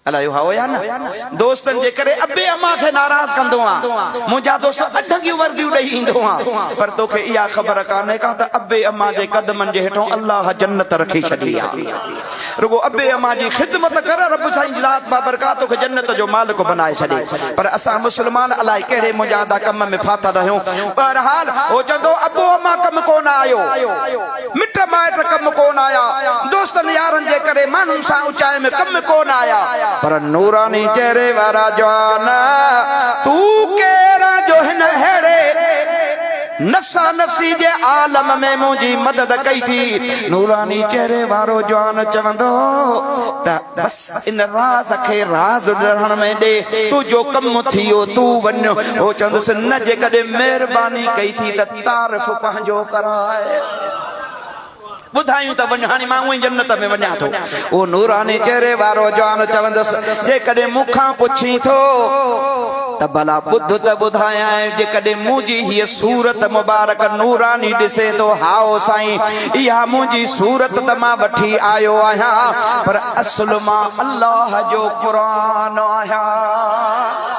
الا اهو هائو يا نه دوستن جي ڪري ابي اما کي ناراض ڪندو آ منجا دوست اڍنگيون ورديون ڏئي ايندو آ پر توکي اها خبر ڪانه ڪا ته ابي اما جي قدمن جي هيٺون الله جنت رکي ڇڏي آ رڳو ابي اما جي خدمت ڪر رب سائين ذات با برڪات توکي جنت جو مالڪ بنائي ڇڏي پر اسان مسلمان الا ڪهڙي منجا ادا ڪم ۾ ڦاٿل رهيون بهرحال هو چندو ابو اما ڪم ڪونه آيو مٽ مائٽ ڪم ڪو نه آيا، دوستن يارن جي ڪري ماڻهن سان اچائي ۾ ڪم ڪو نه آيا. پر نوراني چهري وارا جوان تون ڪير آن جو هن اهڙي نفسا نفسي جي عالم ۾ منهنجي مدد ڪئي ٿي. نوراني چهري وارو جوان چوندو ته بس ان راز کي راز رهڻ ۾ ڏي، تنهنجو ڪم ٿيو تون وڃ. هو چوندس نه جيڪڏهن مهرباني ڪئي ٿي ته. تعارف پنهنجو ڪرائي ٻڌايون ته وڃ هاڻي مان اونئين جنت ۾ وڃان ٿو اهو نوراني چهري وارو جوان چوندس جيڪڏهن مون کان پڇين ٿو ته ڀلا ٻڌ ته ٻڌايان جيڪڏهن منهنجي هيء صورت مبارڪ نوراني ڏسي ٿو هائو سائين اها منهنجي صورت ته مان وٺي آيو آهيان پر اصل مان الله جو قرآن آهيان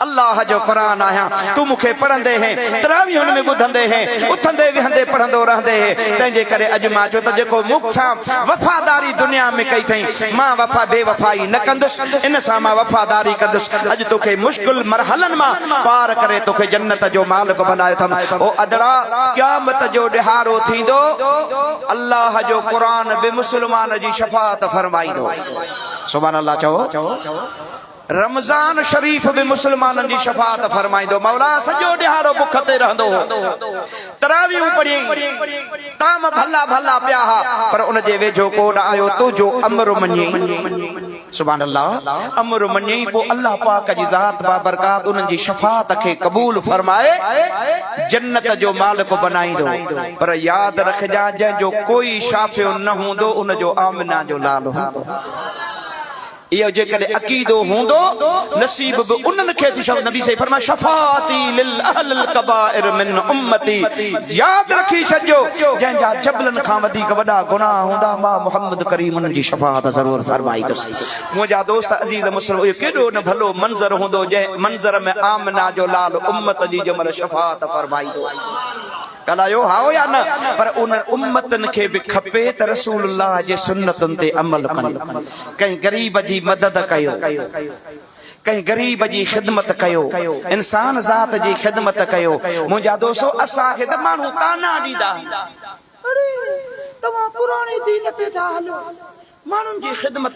الله جو قرآن آهيان، تون مون کي پڙهندي هين، تراويحن ۾ ٻڌندي هين، اٿندي ويهندي پڙهندو رهندي هين، تنهنجي ڪري اڄ مان چيو ته جيڪو مون سان وفاداري دنيا ۾ ڪئي ٿئين، مان وفا بي وفائي نه ڪندس، ان سان مان وفاداري ڪندس، اڄ توکي مشڪل مرحلن مان پار ڪري توکي جنت جو مالڪ بنايو اٿم، او ادڙا! قيامت جو ڏهاڙو ٿيندو، الله جو قرآن به مسلمان جي شفاعت فرمائيندو. سبحان الله چئو. رمضان شريف به مسلمانن جي شفاعت فرمائيندو. مولا سڄو ڏهاڙو بک تي رهندو هو. تراويحون پڙهيائين. طعام ڀلا ڀلا پيا ها، پر ان جي ويجهو ڪو نه آيو تو جو امر مڃين. سبحان الله امر مڃين پوء الله پاڪ جي ذات بابرڪات انهن جي شفاعت کي قبول فرمائي جنت جو مالڪ بنائيندو. پر ياد رکجان جنهن جو ڪوئي شافع نه هوندو ان جو آمنه جو لال هوندو. اهو جيڪڏهن عقيدو هوندو نصيب به انهن کي ٿيندو ۽ نبي صلي الله عليه وسلم فرمايو شفاعتي لاهل الڪبائر من امتي ياد رکي ڇڏجو جنهن جا جبلن کان وڌيڪ وڏا گناهه هوندا مان محمد ڪريم انهن جي شفاعت ضرور فرمائيندس منهنجا دوست عزيز مسلم اهو ڪيڏو نه ڀلو منظر هوندو جنهن منظر ۾ آمنه جو لال امت جي جمل شفاعت فرمائيندو. ڳالهايو هائو يا نه پر انهن امتن کي به کپي ته رسول الله جي سنتن تي عمل ڪن ڪنهن غريب جي مدد ڪيو ڪنهن غريب جي خدمت ڪيو انسان ذات جي خدمت ڪيو منهنجا دوستو اسان کي ته ماڻهو طعنا ڏيندا آهن اڙي توهان پراڻي دين تي ٿا هلو ماڻهن جي خدمت